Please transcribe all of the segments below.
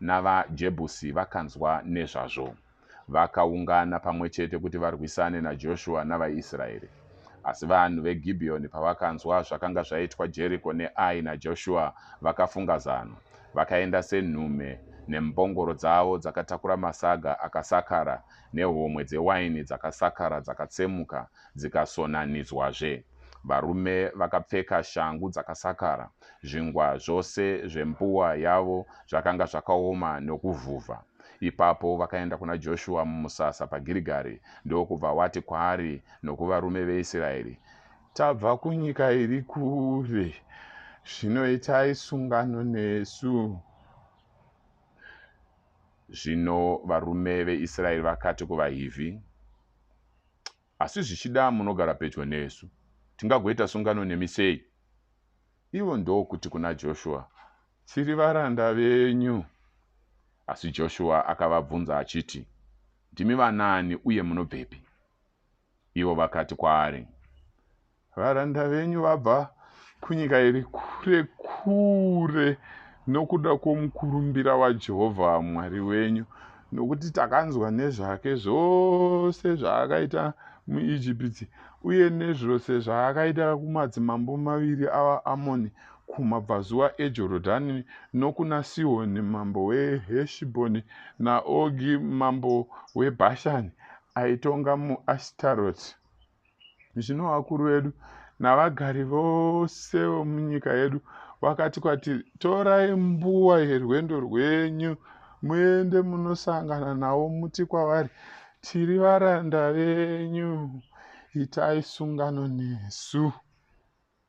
navaJebhusi vakanzwa nezvazvo. Vakaungana pamwe chete kuti varwisane naJoshua navaIsraeri. Asi vanhu veGibhiyoni pavakanzwa zvakanga zvaitwa Jeriko neAi naJoshua, vakafunga zano. Vakaenda senhume nembongoro dzavo dzakatakura masaga akasakara nehomwe dzewaini dzakasakara dzakatsemuka dzikasonanidzwazve. Varume vakapfeka shangu dzakasakara, Zvingwa zvose zvembuwa yavo zvakanga zvakaoma nokuvhuvha. Ipapo vakaenda kuna Joshua mumusasa paGirigari ndokubva wati kwaari nokuvarume veIsiraeri, Tabva kunyika iri kure, zvino itai sungano nesu. Zvino varume veIsiraeri vakati kuvaHivhi, asi zvichida munogara pedyo nesu. Tingagoita sungano nemi sei? Ivo ndokuti kuna Joshua, Tiri varanda venyu. Asi Joshua akavabvunza achiti, Ndimi vanaani uye munobvepi? Ivo vakati kwaari, Varanda venyu vabva kunyika iri kure kure nokuda kwomukurumbira waJehovha Mwari wenyu, nokuti takanzwa nezvake zvose zvaakaita muIjipiti uye nezvose zvaakaita kumadzimambo maviri avaAmoni kumabvazuva eJorodhani nokuna Sihoni mambo weHeshibhoni naOgi mambo weBhashani, aitonga muAshitaroti. zvino vakuru vedu navagari vose vomunyika yedu vakati kwatiri torai mbuwa yerwendo rwenyu muende munosangana navo muti kwavari tiri varanda venyu itai sungano nesu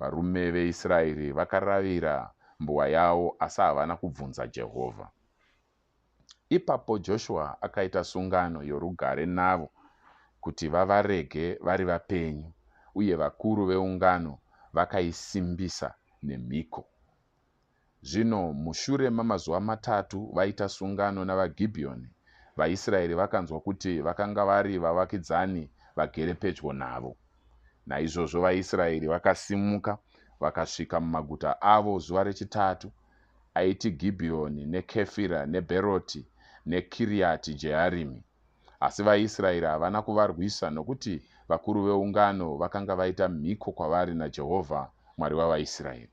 Varume veIsraeri vakaravira mbuwa yavo asi havana kubvunza Jehovha. Ipapo Joshua akaita sungano yorugare navo kuti vavarege vari vapenyu, uye vakuru veungano vakaisimbisa nemhiko. Zvino mushure mamazuva matatu vaita sungano navaGibhiyoni, vaIsraeri vakanzwa kuti vakanga vari vavakidzani vagere pedyo navo. Naizvozvo vaIsraeri vakasimuka vakasvika mumaguta avo zuva rechitatu, aiti Gibhiyoni neKefira neBheroti neKiriati Jearimi. Asi vaIsraeri havana kuvarwisa nokuti vakuru veungano vakanga vaita mhiko kwavari naJehovha, Mwari wavaIsraeri.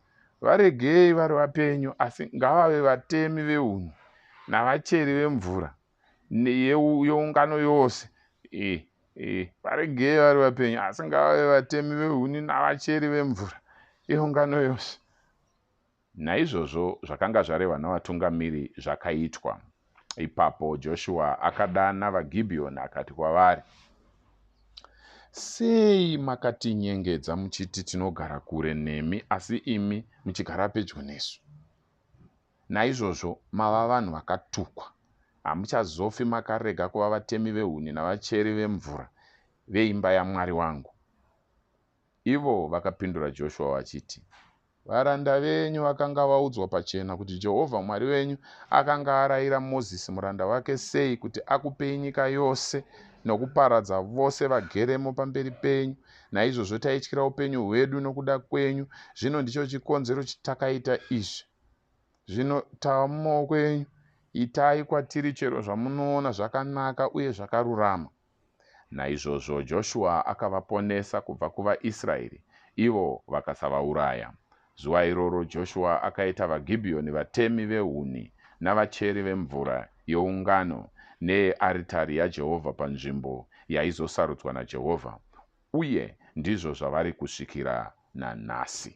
Varegei vari vapenyu, asi ngavave vatemi vehuni navacheri vemvura yeungano yose. E, e, varegei vari vapenyu, asi ngavave vatemi vehuni navacheri vemvura yeungano yose. Naizvozvo zvakanga zvarehwa navatungamiri zvakaitwa. Ipapo Joshua akadana vaGibhiyoni akati kwavari, Sei makatinyengedza muchiti tinogara kure nemi, asi imi muchigara pedyo nesu? Naizvozvo mava vanhu vakatukwa. Hamuchazofi makarega kuva vatemi vehuni navacheri vemvura veimba yaMwari wangu. Ivo vakapindura Joshua vachiti, Varanda venyu vakanga vaudzwa pachena kuti Jehovha Mwari wenyu akanga arayira Mozisi muranda wake sei kuti akupei nyika yose nokuparadza vose vageremo pamberi penyu. Naizvozvo taityira upenyu hwedu nokuda kwenyu. Zvino ndicho chikonzero chitakaita izvi. Zvino tava mumaoko enyu. Itai kwatiri chero zvamunoona zvakanaka uye zvakarurama. Naizvozvo Joshua akavaponesa kubva kuvaIsraeri, ivo vakasavauraya. Zuva iroro Joshua akaita vaGibhiyoni vatemi vehuni navacheri vemvura yeungano neyearitari yaJehovha panzvimbo yaizosarudzwa naJehovha, uye ndizvo zvavari kusvikira nanhasi.